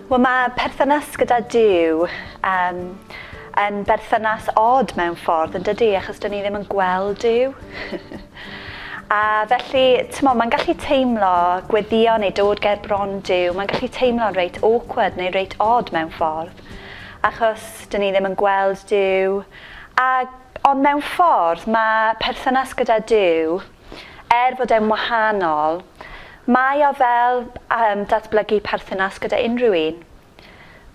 Wel, mae perthynas gyda Duw um, yn berthynas od mewn ffordd, yn dydy, achos dyn ni ddim yn gweld Duw. a felly, ti'n mae'n gallu teimlo gweddio neu dod ger bron Duw, mae'n gallu teimlo'n reit awkward neu reit od mewn ffordd, achos dyn ni ddim yn gweld Duw, a Ond mewn ffordd, mae perthynas gyda Duw, er bod e'n wahanol, mae o fel um, datblygu perthynas gyda unrhyw un.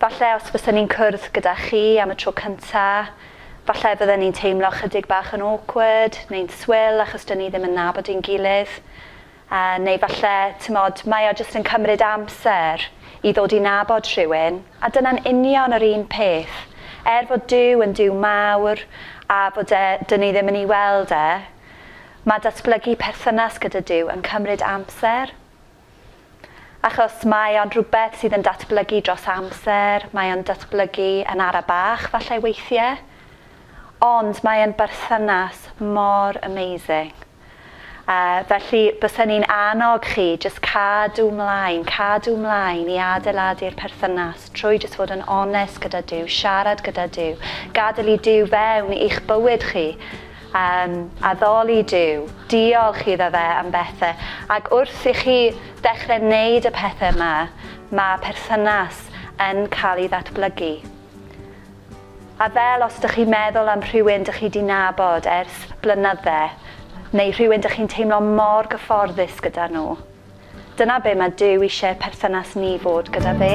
Falle os fysen ni'n cwrdd gyda chi am y tro cynta, falle bydden ni'n teimlo chydig bach yn awkward neu'n swil achos dyn ni ddim yn nabod ein gilydd. Yy, neu falle, timod, mae o jyst yn cymryd amser i ddod i nabod rhywun, a dyna'n union yr un peth. Er fod Duw yn Duw mawr, a bod e, 'dyn ni ddim yn ei weld e, mae datblygu perthynas gyda Duw yn cymryd amser. Achos mae o'n rhywbeth sydd yn datblygu dros amser, mae o'n datblygu yn ara bach falle weithiau, ond mae e'n berthynas mor amazing. Yy, felly, bysen i'n annog chi jyst cadw 'mlaen, cadw 'mlaen i adeiladu'r perthynas trwy jyst fod yn onest gyda Duw, siarad gyda Duw, gadael i Duw fewn i'ch bywyd chi, yym, addoli Duw, diolch iddo fe am bethe, ac wrth i chi ddechre neud y pethe 'ma, ma' perthynas yn ca'l 'i ddatblygu. A fel os dych chi'n meddwl am rhywun dych chi 'di nabod ers blynydde, neu rhywun dych chi'n teimlo mor gyfforddus gyda nhw. Dyna be mae Duw eisiau perthynas ni fod gyda fe.